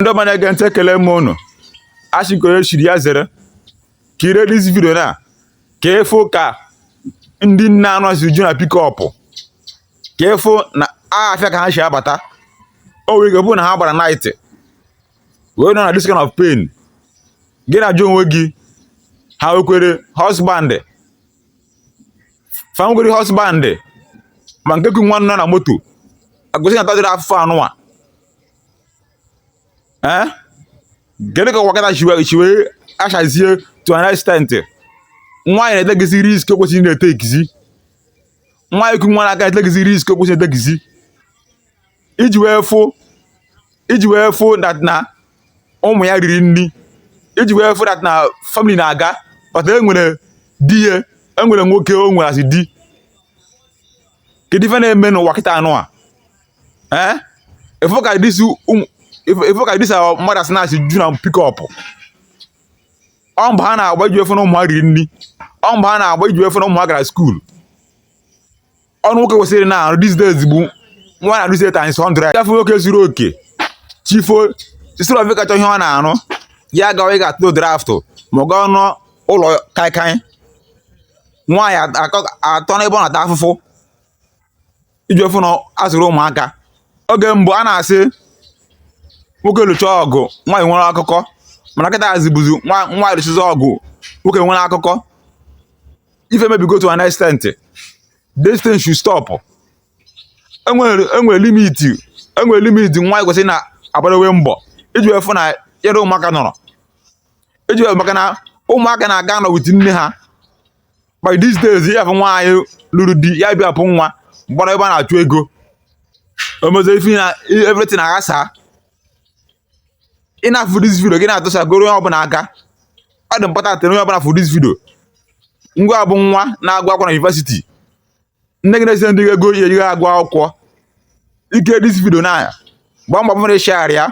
ndị ọma na-ege ntị ekele m unu asị ka onye chiri ya zere kirie this video na ka ị fụ ka ndị nne anụwa si ju na pick up ka ị fụ na afịa ka ha si abata o nwere ike bụ na ha gbara night wee nọ na this kind of pain gị na-ajụ onwe gị ha nwekwere husband fa nwekwere husband ma nke ku nwa nọ na moto agụsị na-atadịrị afụfụ anụwa ee eh? kedu ka ụwa kịta si wee achazie to an extent nwaanyị na-etekizi risk o kwesịrị na-etekizi nwaanyị ku nwa n'aka etekizi risk o kwesịrị na-etekizi iji wee fụ iji wee fụ that na ụmụ ya riri nri iji wee fụ that na family na-aga but enwere di ya enwere nwoke o nwere as di kedu ife na-eme n'ụwa kịta anụwa eh ị fụ ka this um, ị fụ ka this our mothers na si ju na pick up ọ mbọ ha na-agba iji wee fụ na ụmụ ha riri nri ọ mbọ ha na-agba iji wee fụ na ụmụ ha gara school ọrụ nwoke kwesịrị na-arụ these days bụ nwaanyị na-arụzi times 100 ị ga-afụ nwoke zuru oke chi fo sisiri ofe kacha ihe ọ na-arụ ya gawa ịga atụ draft ma ọ gaa nọ n'ụlọ kaikai nwaanyị atọ n'ebe ọ na-ata afụfụ iji wee fụ na a zụrụ ụmụaka oge mbụ a na-asị nwoke lụcha ọgụ nwaanyị nwere akụkọ mana kịta azibụzi nwaanyị lụchizi ọgụ nwoke nwere akụkọ ife mebigo to an extent this thing should stop enwere limit enwere limit nwaanyị kwesịrị na-agbaruwe mbọ iji wee fụ na yere ụmụaka nọrọ iji maka na ụmụaka na-aka anọ with nne ha but these days ị ya-afụ nwaanyị lụrụ di ya bịa bụ nwa gbara ebe a na-achụ ego o mezie ife na everything aghasa ị na-afụ this video gị na-atụsa goro onye ọbụla aka ọ dị important onye ọbụla fụ this video ngị bụ nwa na-agụ akwụkwọ na university nne gị na-esendi ego ị ji agụ akwụkwọ i kirie this video na gbaa mbọ bụrụ ịshagharị ya